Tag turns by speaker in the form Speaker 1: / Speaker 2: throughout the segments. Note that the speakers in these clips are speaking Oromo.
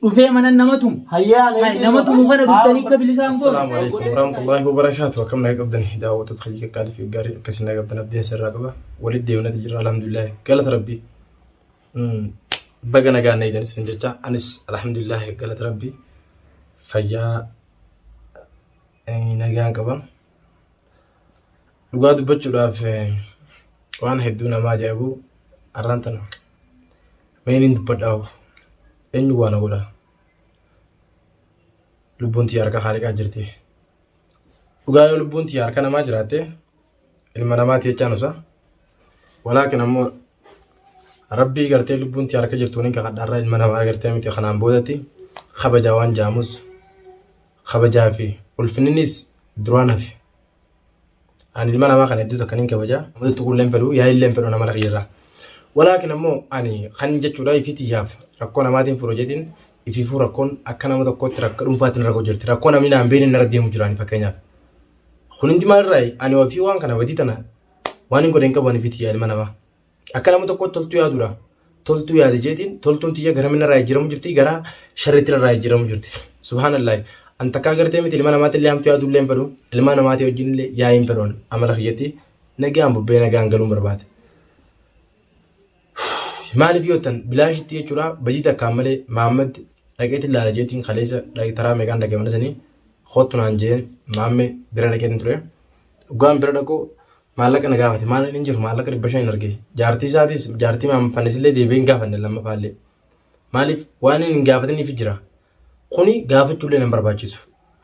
Speaker 1: dhufee mana nama tumu. Hayyaa Hay, nama tumu kana dhuftanii akka bilisaan goone. Assalaamu alaikum
Speaker 2: warahmatullahi wabarakaatu akkam naga qabdan daawwattoota kiyya qaqqaalii fi gaarii akkasii naga qabdan abdiin sirraa qaba walitti deemnati jirra alhamdulillahi galata rabbii Mm, baga nagaan na eedan isin jecha anis alhamdulillahi galata rabbii fayyaa eh, nagaan qaba dhugaa dubbachuudhaaf eh, waan hedduu namaa ajaa'ibu arraan tana Mee niin dubbadhaaf eenyu waa na godha lubbuun tiyya harka haaliqaa jirti dhugaa yoo lubbuun tiyya harka namaa jiraatte ilma namaa tiyachaan usa walaakin ammoo rabbii gartee lubbuun tiyya harka jirtuun hin kakadhaarraa ilma namaa gartee miti kanaan boodatti kabajaa waan jaamus kabajaa fi ulfinninis duraan hafe Ani ilma namaa kana hedduu takkan hin kabaja. Namatti tuquullee hin fedhu, yaa illee hin fedhu namala kiyyarraa. Walaakin ammoo ani kan jechuudha ifii tiyyaaf rakkoo namaatiin furu jedhin ifiifuu rakkoon akka nama tokkootti rakka dhuunfaatiin rakkoo jirti. Rakkoo namni naan beekne narra deemu jiraani fakkeenyaaf. Kun hundi maalirraayi? Ani ofii waan kana badii tana waan hin godhe hin qabu ani ifii tiyyaa ilma namaa. Akka nama tokkootti toltuu yaadudha. Toltuu yaade jeetiin toltuun tiyya gara minna irraa jijjiiramu jirti gara sharriitti irraa jijjiiramu jirti. Subhaanallahi. An takkaa gartee miti ilma namaatti illee hamtuu yaaduu illee hin fedhu. Ilma namaatii wajjin illee yaa'ii hin fedhu amala kiyyatti nagaan bubbee nagaan galuun barbaade. Maaliif yoo ta'an bilaashitti jechuudha bajii takkaan malee Maammad dhaqeetti ilaala jeetiin kaleessa taraa meeqaan dhaqee mana sanii kottu naan jeen maamme bira dhaqeetti ture. Dhugaan bira dhaquu maallaqa na gaafate maal hin jiru maallaqa dhibba shan hin arge jaartii isaatis jaartii maamfannisillee deebi'ee hin gaafanne lammaffaallee maaliif waan hin gaafataniif jira kuni gaafachuullee nan barbaachisu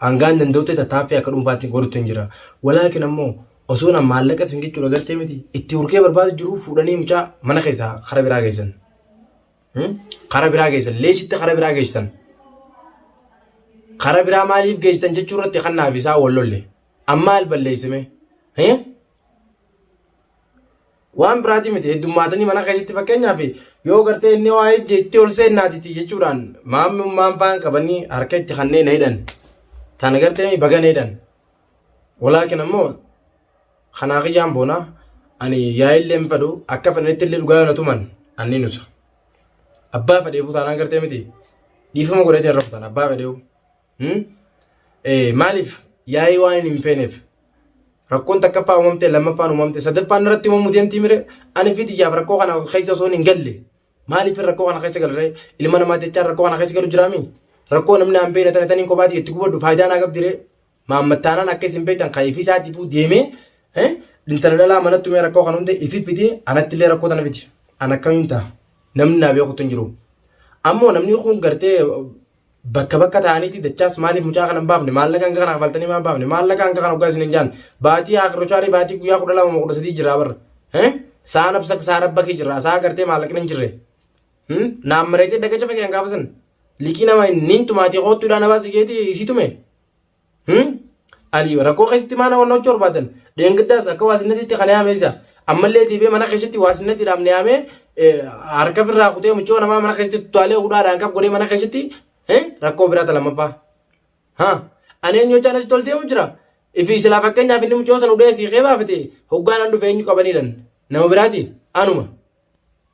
Speaker 2: hangaan danda'utti tattaaffii akka dhuunfaatti godhutti hin jira walaakin ammoo osoo na maallaqa isin jechuudha gartee miti itti urgee barbaadu jiru fuudhanii mucaa mana keessaa kara biraa geessan kara biraa geessan leeshitti kara biraa geessan kara biraa maaliif geessan jechuu irratti kan naaf isaa wal lolle. An maal balleesse mee? Hee? Waan biraatii miti heddummaatanii mana keessatti fakkeenyaaf yoo gartee inni waa ejje itti ol seennaatiti jechuudhaan maamummaan faan qabanii harka itti kanneen na hidhan. Tana gartee baga na hidhan. Walaakin ammoo kanaa kiyyaan boonaa ani yaa'illee hin fedhu akka fedhanitti illee dhugaa na tuman anni nusa. Abbaa fedheefuu taanaan gartee miti dhiifama godhatee rabbutan abbaa fedheefuu. Hmm? Eh, maaliif yaa'ii waan hin hin feeneef rakkoon takkaffaa uumamte lammaffaan uumamte sadaffaan irratti uumamuu deemtii mire ani fi tiyyaaf rakkoo kana keessa osoo hin galle maaliif rakkoo kana keessa galre ilma namaa jechaan rakkoo kana keessa galu jiraami rakkoo namni aan beekne tana taniin kophaati itti gubadhu faayidaa naa qabdire maammattaanaan akka isin beektan kan ifii isaatiifuu deemee eh, intala dhalaa manattu mee rakkoo kana hunda ifi fidee anatti illee rakkoo tana fidi an akkamiin ta'a namni naa beekutu hin jiru ammoo namni kun gartee bakka bakka ta'aniiti dachaas maaliif mucaa kana hin baafne maallaqa hanga kana kafaltanii maa baafne maallaqa hanga kana hoggaa isin hin jaan baatii haakirocaarii baatii guyyaa kudha lama moo kudha sadii jirraa barra Eh? saa nabsak saa rabbakii jirraa saa gartee maallaqni hin jirre Hmm? naan mareetee daga cafe kan gaafasan likii nama niin tumaatii koottuudhaan abaa sigeetii isii tume Ani rakkoo keessatti maana waan hojjechuu barbaadan dheengaddaas akka waasinatiitti kan yaame isa ammallee deebi'ee mana keessatti waasinatti dhaabne yaamee harka irraa kutee mucoo namaa mana keessatti tutaalee hudhaadhaan qab godhee mana keessatti rakkoo biraa talamaffaa. Ani eenyu hojjaan asitti ol deemu jira. Ifi silaa fakkeenyaaf inni mucoo sana hudhee siikee baafate hoggaan an dhufe eenyu qabaniidhan nama biraati anuma.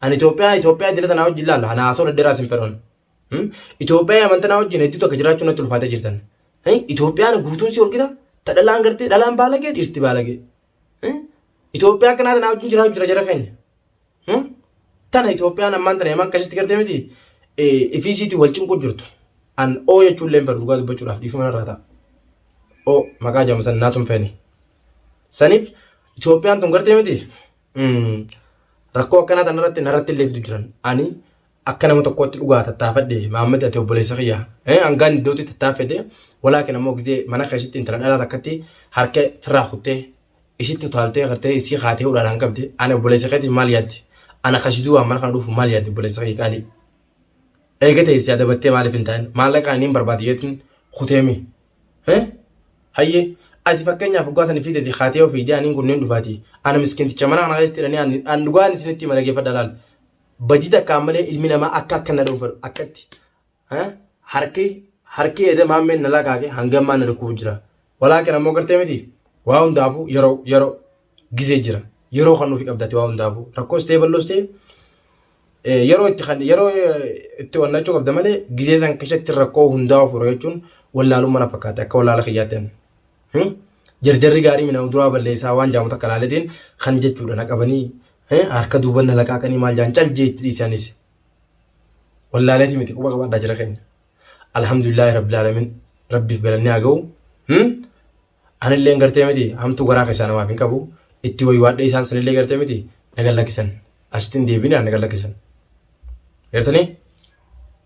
Speaker 2: Ani Itoophiyaa Itoophiyaa idilee tanaa wajjin laalla ana haasoo dhedheeraa isin fedhoon. Itoophiyaa amantanaa wajjin hedduu takka jiraachuu natti ulfaatee jirtan. Itoophiyaan guutuun si walqixa ta dhalaan gartee dhalaan baalagee dhiirti baalagee. Itoophiyaa akkanaa tanaa wajjin jiraachuu jira jara keenya. Tana Itoophiyaan ammaan tana yaman akkasitti gartee miti ifiisiitii wal cinquu jirtu. An oo jechuun illee hin fedhu dhugaa dubbachuudhaaf dhiifama irraa ta'a. Oo maqaa jaamu san naatu hin feene. Saniif Itoophiyaan tun gartee miti Rakkoo akkanaa tan irratti narratti illee fidu jiran. Ani akka nama tokkootti dhugaa tattaafadhe Maammad ati obboleessa kiyya. Hangaan iddootti tattaafete walaakin ammoo gizee mana keessatti intala dhalaa takkatti harka firraa kuttee isitti utaaltee gartee isii kaatee hudhaadhaan qabde ani obboleessa keetiif maal yaadde? Ana kasiduu waan mana kana dhufu maal yaadde obboleessa kiyya qaalii? Eega teessee adabattee maaliif hin taane? Maallaqaan inni hin barbaade jeetiin kuteemi. Hee? Hayyee. Ati fakkeenyaaf dhugaa san fi tati kaatee ofii ijaa aniin kunneen dhufaati. Ana miskinticha mana kana keessatti hidhanii ani an dhugaa ani isinitti hima dhaggeeffadha laal. Badii takkaan malee ilmi namaa akka akka na dhuunfadhu akkatti. Hee? Harki harki eeda maammeen na lakaake hanga ammaa na dhukkubu jira. Walaakin ammoo gartee miti. Waa hundaafuu yeroo yeroo. Gizee jira. Yeroo kan nuufi qabdati waa hundaafu. Rakkoos ta'ee balloos ta'e yeroo itti kan yeroo itti onnachuu qabda malee gizee san keessatti rakkoo hundaa ofirra jechuun wallaaluu mana fakkaate akka wallaala kiyyaatti ani. Jarjarri gaarii minaan duraa balleessaa waan jaamu takka laaletiin kan jechuudha na qabanii harka duuban na laqaaqanii maal jaan cal jeetti dhiisaanis. Wallaaleeti miti quba qabaadhaa jira keenya. Alhamdulillah rabbil alamin rabbiif galannee haa ga'u. Anilleen gartee miti hamtuu garaa keessaa namaaf hin qabu. Itti waywaadhee isaan sanillee gartee miti nagan lakkisan. Asitti hin deebine nagan lakkisan. Gartanii?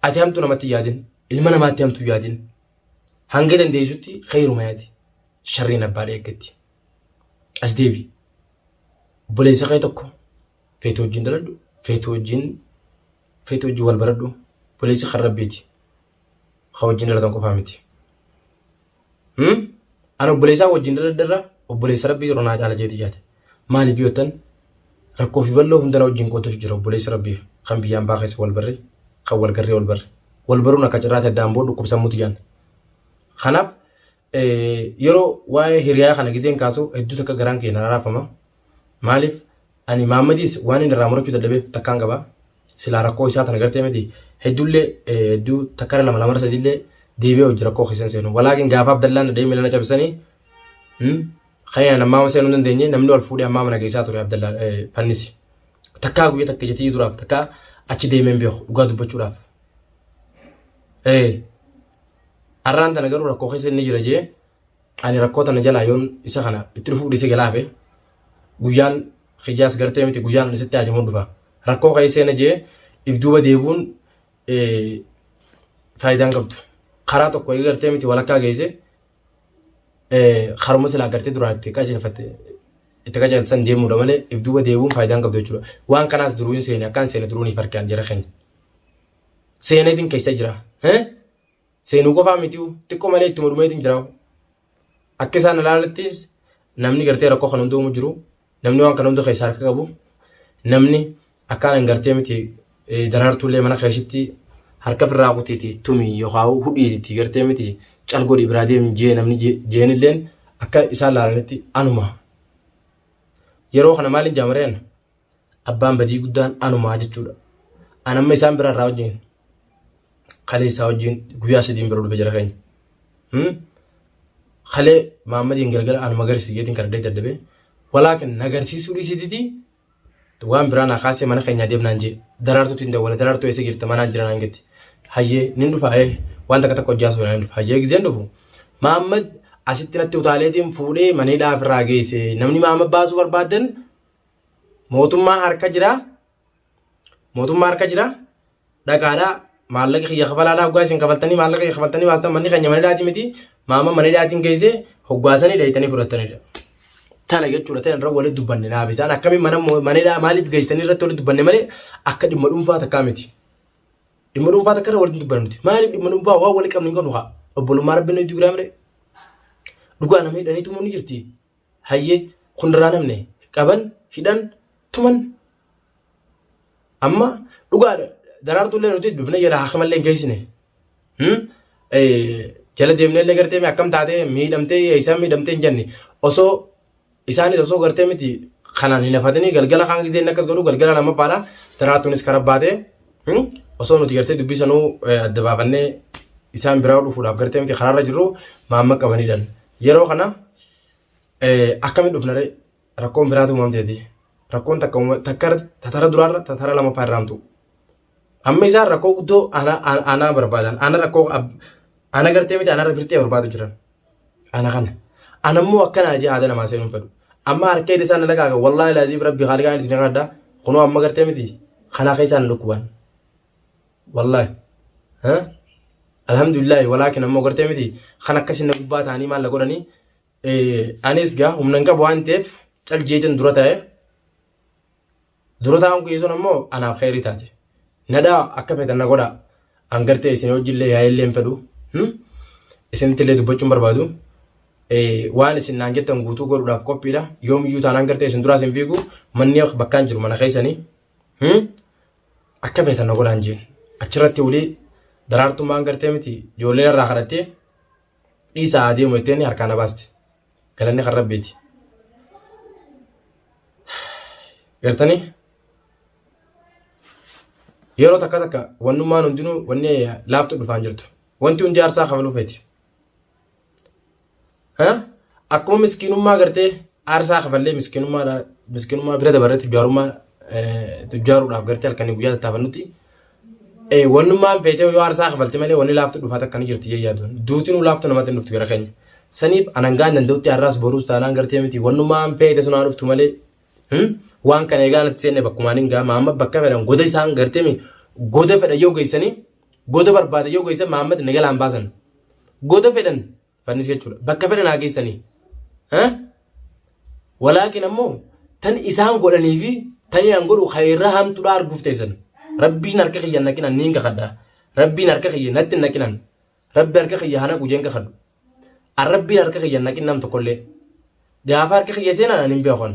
Speaker 2: Ati hamtuu namatti hin yaadin. Ilma namaatti hamtuu hin yaadin. Hanga dandeessutti kheeruma yaadi. Sharriin abbaa dheeggetti. As deebi. Obboleessa kee tokko feetu wajjin daladhu, feetu wajjin feetu wajjin wal baradhu. Obboleessi kan rabbiiti. ka wajjin dhalatan qofaa miti. Hmm? An obboleessaa wajjin dhaladharra obboleessa rabbii yeroo naa caala jeetii yaade. Maaliif yoo jettan rakkoo fi bal'oo hundana wajjin qooddatu jira obboleessi rabbii kan biyya ambaa keessa wal barre kan wal garree wal barre. Wal baruun akka cirraatti addaan booda dhukkubsammuutu jaan. Kanaaf Yeroo waa'ee hiriyaa kana gizeen kaasu hedduu takka garaan kiyya na raafama. Maaliif ani Maammadiis waan inni irraa murachuu dadhabeef takkaan qaba. Silaa rakkoo isaa tana gartee miti hedduullee hedduu takkara lama lamara sadiillee deebi'ee hojii rakkoo keessan seenu. Walaakin gaafa Abdallaan dhadhee miila na cabsanii kan ammaa seenuu hin dandeenye namni wal fuudhee ammaa mana keessaa ture Abdallaan fannisi. Takkaa guyyaa takka jetii duraaf takkaa achi deemeen beeku dhugaa dubbachuudhaaf. Har'aan tana garuu rakkoo keessa inni jira jee ani rakkoo tana jalaa yoon isa kana itti dhufuuf dhiisee galaa hafe guyyaan kiyyaas gartee miti guyyaan ani sitti haajamuun dhufa. Rakkoo keessa inni jee if duuba deebuun faayidaan qabdu. Karaa tokko eega gartee miti walakkaa geesse haruma silaa gartee duraa itti qajeelfatte itti qajeelchan deemuudha malee if duuba deebuun faayidaan qabdu jechuudha. Waan kanaas duruu hin seene akkaan seene duruu ni farkaan jira keenya. seeneetiin keessa jira. Seenuu qofaa miti xiqqoo malee itti mormeetiin jira. Akka isaan ilaalattis namni gartee rakkoo kan hundoomu jiru namni waan kana hunda keessa harka qabu namni akkaan hin gartee miti daraartuullee mana keessatti harka birraa kutiiti tumi yookaan hudhiiti gartee miti calgodhi biraa deemu jee namni jeenilleen akka isaan ilaalanitti anuma. Yeroo kana maaliin jaamareen abbaan badii guddaan anumaa jechuudha. An amma isaan bira irraa wajjin kaleessaa wajjin guyyaa sadiin bira dhufe jira keenya. Kalee Maammadiin galgala anuma agarsiisi jeetiin kan adda dabe walaakin na agarsiisuu dhiisititi waan biraa naa kaasee mana keenyaa deemnaan jee daraartuutiin dawwale daraartuu eessa jirta manaan jira naan jetti. Hayyee nin dhufa ee waan takka takka hojjaa suunaan dhufa hayyee giseen dhufu. Maammad asitti natti utaaleetiin fuudhee maneedhaa ofirraa geesse namni Maammad baasuu barbaadan mootummaa harka jira mootummaa harka jira dhagaadha maallaqa kiyya kafalaadha hoggaa isin kafaltanii maallaqa kiyya kafaltanii baastan manni keenya manidhaati miti maama manidhaatiin geesse hoggaasanii dheeytanii fudhattanidha. Tana jechuudha ta'e irra walitti dubbanne naaf isaan akkamiin mana manidhaa maaliif geessanii irratti walitti dubbanne malee akka dhimma dhuunfaa takkaa miti. Dhimma dhuunfaa takka irra walitti dubbanne miti maaliif dhimma dhuunfaa waan walitti qabnu hin qabnu haa obbolummaa rabbiin nuti giraamire dhugaa nama hidhanii tumuun ni jirti hayye kun irraa namne qaban hidhan tuman amma dhugaadha daraartuu illee nuti dufne jala hakama illee hin geessine jala deemnee illee gartee akkam taatee miidhamtee eessaan miidhamtee hin jenne osoo isaanis osoo gartee miti kanaan hin hafatanii galgala kaan gisee inni akkas godhu galgala nama baadha daraartuunis kara baatee Osoo nuti gartee dubbii sanuu adda baafannee isaan biraa dhufuudhaaf gartee miti karaarra jirru maamma qabanidhaan. Yeroo kana akkami dhufna ree rakkoon biraatu uumamteeti. Rakkoon takka takkara tatara duraarra tatara lamaffaa irraan tu'u. Amma isaan rakkoo guddoo aanaa barbaadan. Aanaa rakkoo aanaa gartee miti aanaa birtee barbaadu jiran. Ana kana. Ana immoo akkana ajee haada namaa seenuun fedhu. Amma harka hidhi isaan laqaaqa wallaahi laaziim rabbi haaliqaa inni isin kadha kunoo amma gartee miti kanaa keessaan hin dhukkuban. Wallaahi. Alhamdulillah walaakin ammoo gartee miti kan akkasii na gubbaa ta'anii maal na godhanii anis gaa humna hin qabu waan ta'eef cal jeetiin dura ta'e Dura taa'uun kiyya sun ammoo anaaf kheyrii taate. Nadhaa akka feetan na godhaa. An gartee isin wajjillee yaa'ellee hin fedhu. Isinittillee dubbachuun barbaadu. Waan isin naan jettan guutuu godhuudhaaf qophiidha. Yoomiyyuu taanaan gartee isin duraas hin fiigu. Manni bakkaan jiru mana keessanii. Akka feetan na godhaan jeen. Achirratti walii daraartummaan gartee miti ijoolleen irraa kadhattee dhiisaa adeemu jettee harkaa na baaste. galanni kan rabbiiti gartanii yeroo takka takka wannummaan hundinuu wanni laaftu dhufaan jirtu wanti hundi aarsaa kafalu feeti akkuma miskiinummaa gartee aarsaa kafallee miskiinummaa miskiinummaa bira dabarre tujjaarummaa tujjaaruudhaaf gartee halkanii guyyaa tattaafannutti Eh, wannummaan feetee yoo aarsaa kafalti malee wanni laaftu dhufaa takka ni jirti jee yaaduun. Duutinuu laaftu namatti hin dhuftu gara keenya. Saniif anangaan danda'utti har'aas boruus taanaan gartee miti wannummaan feete sun haa dhuftu malee hmm? waan kana egaa natti seenne bakkumaan hin gaama amma bakka fedhan goda isaan gartee mi goda fedhan yoo geessanii goda barbaada yoo geessan Mahammad nagalaan baasan goda fedhan fannis jechuudha bakka fedhan haa geessanii walaakin ammoo tan isaan godhanii fi tan isaan godhu kayirra hamtuudha arguuf teessan rabbiin harka kiyya naqinan niin kakadha rabbiin harka kiyya natti naqinan rabbi harka kiyya hana gujeen kakadhu an rabbiin harka kiyya naqin nam tokkollee gaafa harka kiyya seenan an hin beekon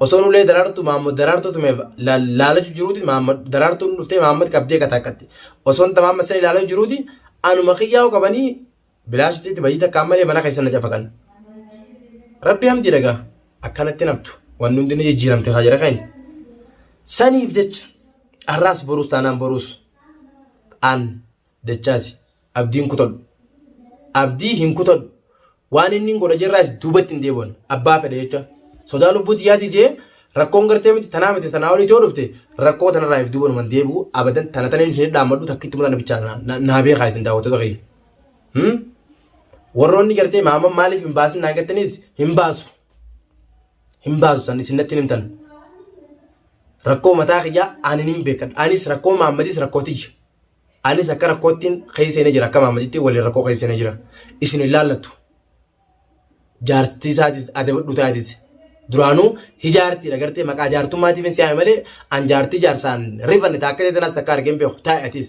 Speaker 2: Osoon ulee daraartuu Maammad daraartuu tumeef laalachu jiruuti Maammad daraartuun dhuftee Maammad qabdee kataakkatti. Osoon tamaamma sani laalachu jiruuti anuma kiyyaa'u qabanii bilaashisitti bajii takka ammalee mana keessa na cafaqan. Rabbi hamti dagaa akkanatti naftu wanni hundi ni jijjiiramte haa jira keenya. Saniif jecha har'aas boruus taanaan boruus an dachaasi. Abdii hin kutadhu. Abdii hin kutadhu. Waan inni hin godha jirraas duubatti hin deebi'an. Abbaa fedhe jecha. Sodaa lubbuu tiyyaati jee rakkoon gartee miti tanaa miti tanaa olii yoo dhufte rakkoo tanarraa if duuba numan deebi'u abadan tana taneen isin dhaammadhu takkitti mata bichaa na- na- naa beekaa isin daawwattoota kiyya. Hmm? Warroonni gartee maama maaliif hin baasin naan gattaniis hin baasu. Hin baasu san isin natti hin himtan. Rakkoo mataa kiyyaa ani niin beekadha. Anis rakkoo maammadis rakkoo tiyya. Anis akka rakkoottiin keessa seenee jira akka maammacitti waliin rakkoo keessa seenee jira. Isin hin laallattu. Jaartii isaatis adabadhu taatis. Duraanuu hijaartii agartee maqaa jaartummaatiif hin si'aame malee an jaartii jaarsaan rifanne taakka ta'e tanas takka argeen beeku taa'e atis.